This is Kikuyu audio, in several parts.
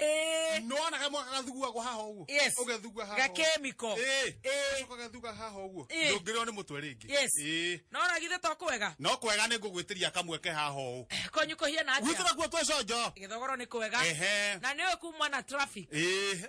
ĩĩ nona ge mwaka gathuguagwo haha ũguo Yes. ũgethugua haha gakemiko Ĩĩ. Ĩĩ. Ũcoka gathuga haha ũguo Ĩĩ. ndũngĩrĩo nĩ mũtwe rĩngĩ Yes. Ĩĩ. no ragithe to kwega no kwega nĩ ngũgwĩtĩria kamwe ke haha ũũ konyu kũhiana gwitũ atĩa nakuo twĩ conjo gĩthogoro nĩ kwega Ehe. na nĩ ũkumwa na traffic Ĩĩ.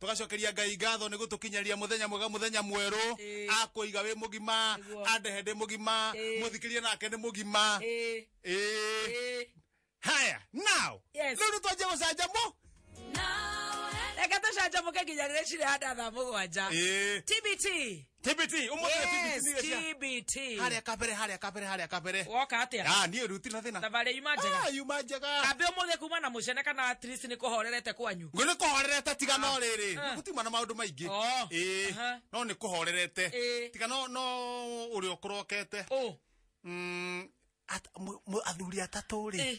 tũgacokeria ngai ngatho nĩ gũtũkinyaria mũthenya mwega mũthenya mwerũ Ĩĩ. akũiga wĩ mũgima Nĩguo. andehe ndĩ mũgima Ĩĩ. mũthikĩrie nake nĩ mũgima Ĩĩ, Ĩĩ. ĩĩ. haya now Yes. rĩu nĩtwanjia gũcanjamũ reke tũcanjamũke nginya rĩrĩa cirĩhanda thaa mũgwanja Ĩĩ. tbt tbt ũmũthĩ Yes, tbt cia TBT. harĩa kabere harĩa kabere harĩa kabere Woka atĩa? ah niĩ ruti na thĩna Thabarĩ yuma njega. ah yuma njega Kambĩ ũmũthĩ kuma na mũcene kana at least nĩ kũhorerete kwanyu. ngwĩ nĩ kũhorerete tiga no rĩrĩ Ah. gũtima na maũndũ maingĩ Oh. ĩĩ Aha. no nĩ kũhorerete Ĩĩ. tiga no no ũrĩa ũkũrokete Ũ. Mm, at- mũ- mũ- athuri atatũ rĩ Ĩĩ.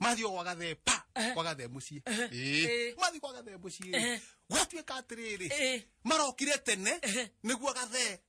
mathi o gwagathe pa Ehe. gwagathe muciĩ Ehe. Ĩĩ. Ĩĩ. mathi gwagathe muciĩ Ehe. gwatuĩka atĩrĩrĩ Ehe. marokire tene Ehe. nĩguo gathe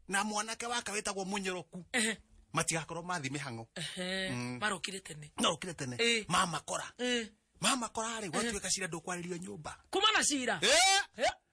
na mwanake wake wĩtagwo mũnyoroku Ehe. matigakorwo mathi mĩhang'o Ehe. Mm. marokire tene marokire tene Ĩĩ. mamakora Eh, mamakora rĩ gwatuĩka cira ndũkwarĩrio nyũmba kuma na cira Eh, Eh,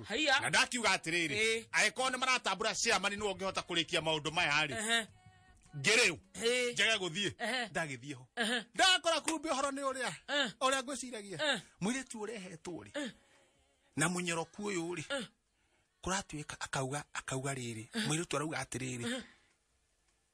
waku Haiya. na ndakiuga atĩrĩrĩ Ĩĩ. angĩkorwo nĩ maratambũra ciamani nĩwe ũngĩhota kũrĩkia maũndũ maya rĩ Ehe. ngĩrĩu Ĩĩ. njage gũthiĩ Ehe. ndagĩthiĩ ho Ehe. ndakora kumbe ũhoro nĩ ũrĩa Eh. ũrĩa ngwĩciragia Eh. mũirĩtu ũrehetwo rĩ na mũnyoroku ũyũ rĩ kũratuĩka akauga akauga rĩrĩ mũirĩtu arauga atĩrĩrĩ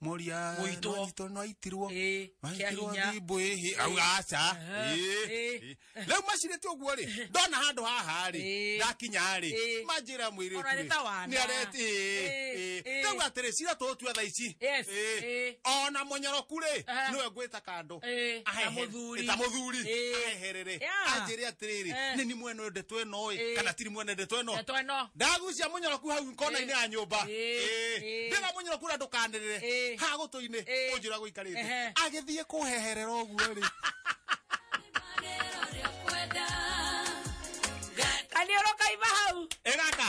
moria Mũitwo. nonyitwo noitirwo Ĩĩ, kĩa noitirwo hinya. thimbũ ĩhĩ au aca Aha, ĩĩ, ĩĩ. ĩĩ. rĩu macirĩte ũguo rĩ ndona handũ haha rĩ Ĩĩ. ndakinya rĩ Ĩĩ. manjĩra mwĩrĩ Ona nĩ ta wana. Ĩĩ, ĩĩ. rĩu atĩrĩ cira tũtua tha ici Yes, Ĩĩ. ĩĩ. ona mũnyoroku rĩ Aha. nĩwe ngwĩta kando Eh, na ahehere- mũthuri. ta mũthuri Eh. aheherere Yeah. anjĩre atĩrĩrĩ Eh. nĩ ni mwene ũyũ ndeto ĩno ĩ Eh. kana tiri mwene ndeto ĩno Ndeto ĩno. ndagucia mũnyoroku hau kona-inĩ ya nyũmba Eh. Eh. ndĩra mũnyoroku ũrĩa ndũkanĩrĩre Eh. ha gũtũ-inĩ Eh. ũnjĩra gũikarĩte Ehe. agĩthiĩ kũheherera ũguo rĩ kaniũrũ kaima hau ĩgaka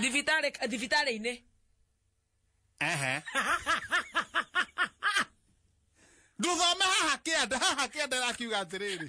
thibitarä thibitarä inä Ehe. Ndũthome haha kĩanda haha kĩanda ĩrakiuga atĩrĩrĩ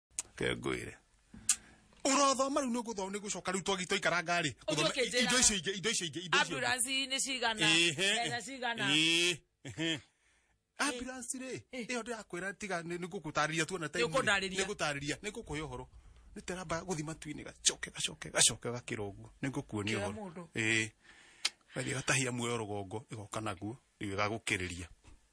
Ke ngwire. Ũrothoma rĩu nĩ ũgũthoma nĩ gũcoka rĩu twagi twaikara ngari. Ũthiĩ ũkĩnjĩra. Indo icio ingĩ, indo icio ingĩ, indo icio ingĩ. ambulance nĩ cigana mbeca cigana ambulance rĩ ĩyo ndĩrakwĩra tiga nĩ ngũgũtarĩria tuona time Nĩũkũndarĩria. ngũtarĩria nĩ ngũkũhe ũhoro nĩ teramba gũthi matu-inĩ gacoke gacoke gacoke gakĩra ũguo nĩ ngũkuonia Kĩra ũhoro mũndũ. ĩĩ gathiĩ gatahia muoyo rũgongo ĩgoka naguo rĩu ĩgagũkĩrĩria